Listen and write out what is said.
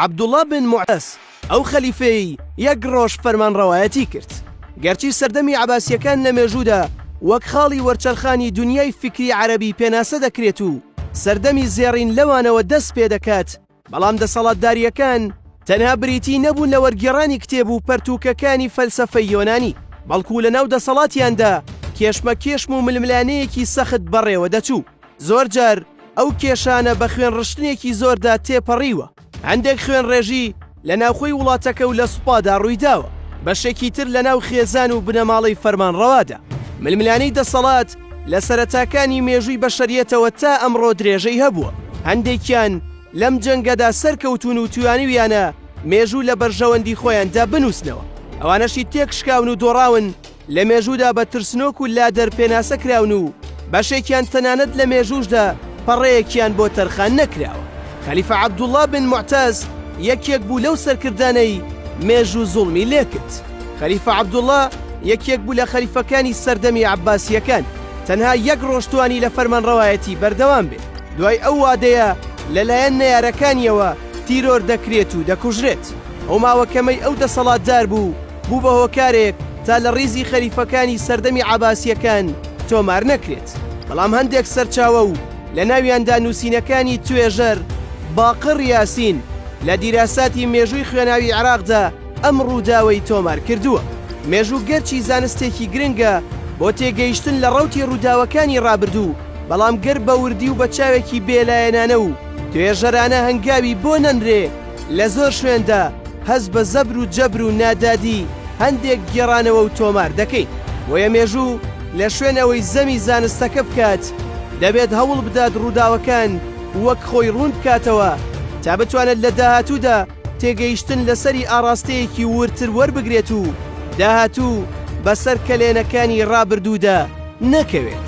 عەبدوڵڵا بن موعتەس، ئەو خەلیفەیەی یەک ڕۆژ فەرمانڕەوایەتی کرد. گەرچی سەردەمی عەباسییەکان لە مێژوودا وەک خاڵی وەرچەرخانی دونیای فیکری عەرەبی پێناسە دەکرێت و سەردەمی زێڕین لەوانەوە دەست پێ دەکات، بەڵام دەسەڵاتدارییەکان تەنها بریتی نەبوون لە وەرگێڕانی کتێب و پەرتووکەکانی فەلسەفەی یۆنانی، بەڵکو لەناو دەسەڵاتیاندا کێشمەکێشم و ململانێیەکی سەخت بەڕێوە دەچوو. زۆرجار ئەو کێشانە بە خوێن ڕشتنێکی زۆردا تێپەڕیوە هەندێک خوێن ڕێژی لە ناوخۆی وڵاتەکە و لە سوپادا ڕوویداوە بەشێکی تر لە ناو خێزان و بنەماڵەی فەرمانڕەوادا ململانەی دەسەڵات لە سەرەتاکانی مێژووی بەشەریەتەوە تا ئەمڕۆ درێژەی هەبووە هەندێکیان لەم جەنگەدا سەرکەوتون و توانیویانە مێژوو لە بەرژەوەندی خۆیاندا بنووسنەوە ئەوانەشی تێکشکاون و دۆڕاون لە مێژوودا بە ترسنۆک و لادەر پێناسە کراون و بەشێکیان تەنانەت لە مێژووشدا پەڕەیەکیان بۆ تەرخان نەکراوە. خەلیفە عەبدوڵڵا بن موعتەز یەکێک بوو لەو سەرکردانەی مێژوو زوڵمی لێکرد. خەلیفە عەبدوڵڵا یەکێک بوو لە خەلیفەکانی سەردەمی عەباسییەکان، تەنها یەک ڕۆژ توانی لە فەرمانڕەوایەتی بەردەوام بێت، دوای ئەو وادەیە لەلایەن نەیارەکانییەوە تیرۆر دەکرێت و دەکوژرێت. ئەو ماوە کەمەی ئەو دەسەڵاتدار بوو، بوو بە هۆکارێک تا لە ڕیزی خەلیفەکانی سەردەمی عەباسییەکان تۆمار نەکرێت، بەڵام هەندێک سەرچاوە و لە ناویاندا نووسینەکانی توێژەر باقڕ یاسین لە دیراساتی مێژووی خوێناوی عێراقدا ئەم ڕووداوەی تۆمار کردووە. مێژوو گەرچی زانستێکی گرنگە بۆ تێگەیشتن لە ڕەوتی ڕووداوەکانی ڕابردوو، بەڵام گەر بە وردی و بە چاوێکی بێلایەنانە و توێژەرانە هەنگاوی بۆ نەنرێ، لە زۆر شوێندا هەست بە زەبر و جەبر و نادادی هەندێک گێڕانەوە و تۆمار دەکەین، بۆیە مێژوو لە شوێن ئەوەی زەمی زانستەکە بکات، دەبێت هەوڵ بدات ڕووداوەکان وەک خۆی ڕوون بکاتەوە تا بتوانێت لە داهاتوودا تێگەیشتن لەسەری ئاڕاستەیەکی وردتر وەربگرێت و داهاتوو بەسەر کەلێنەکانی ڕابردوودا نەکەوێت.